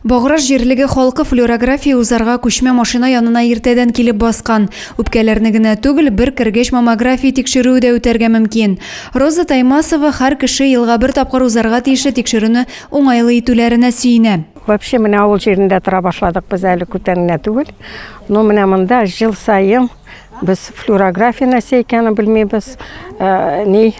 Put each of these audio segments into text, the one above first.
Баграж җирлеге халкы флюорография узарга күчмә машина янына иртәдән килеп баскан. Үпкәләрне генә түгел, бер кергәч маммография тикшерүе дә үтәргә мөмкин. Роза Таймасова һәр кеше елга бер тапкыр узарга тиешле тикшерүне уңайлы итүләренә сөенә. Вообще менә авыл җирендә тора башладык без әле күптән генә түгел. Но менә монда ел саен без флюорография нәрсә икәнен белмибез, ни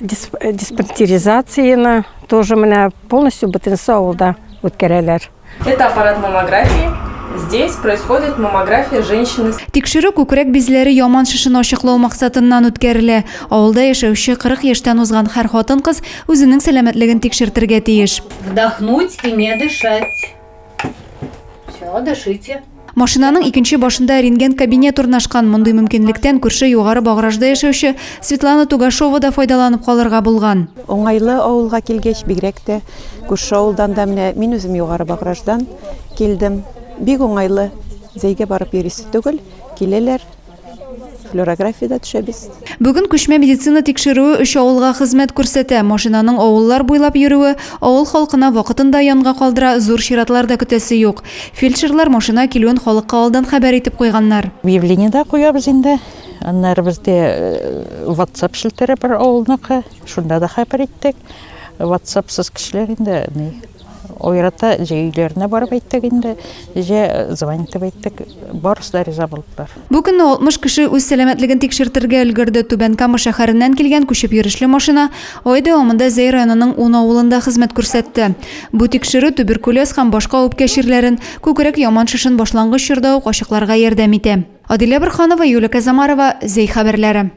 диспансеризацияны тоже менә полностью бөтенесе авылда үткәрәләр. Это аппарат маммографии. Здесь происходит маммография женщины. Тикшерү күкрәк бизләре яман шешен ачыклау максатыннан үткәрелә. Авылда яшәүче 40 яшьтән узган һәр хатын-кыз үзенең сәламәтлеген тикшертергә тиеш. Вдохнуть и не дышать. Все, дышите. Машинаның икенче башында рентген кабинет урнашкан. Мондый мөмкинлектән күрше югары багражда яшәүче Светлана Тугашова да файдаланып калырга булган. Уңайлы авылга килгәч, бигрәк тә күрше авылдан да менә мин үзем югары баграждан килдем. Бик уңайлы. Зәйгә барып йөрисе түгел, киләләр. флюорографиядә төшәбез. Бүген күчмә медицина тикшерүе өч авылга хезмәт күрсәтә. Машинаның авыллар буйлап йөрүе авыл халкына вакытын да янга калдыра, зур чиратлар да көтәсе юк. Фельдшерлар машина килүен халыкка алдан хәбәр итеп куйганнар. Объявление дә куябыз инде. Аннары бездә WhatsApp челтәре бар авылныкы, шунда да хәбәр иттек. WhatsApp сыз кешеләр инде, ни. Ойрата җә өйләренә барып әйттек инде, җә звонить итеп әйттек, барысы да риза булдылар. Бу көнне 60 кеше үз сәламәтлеген тикшертергә өлгерде. Түбән Кама шәһәреннән килгән күчеп йөрешле машина ай дәвамында Зәй районының ун авылында хезмәт күрсәтте. Бу тикшерү туберкулез һәм башка үпкә чирләрен, күкрәк яман шешен башлангыч чорда ук ачыкларга ярдәм итә. Адилә Борһанова, Юлия Казамарова, Зәй хәбәрләре.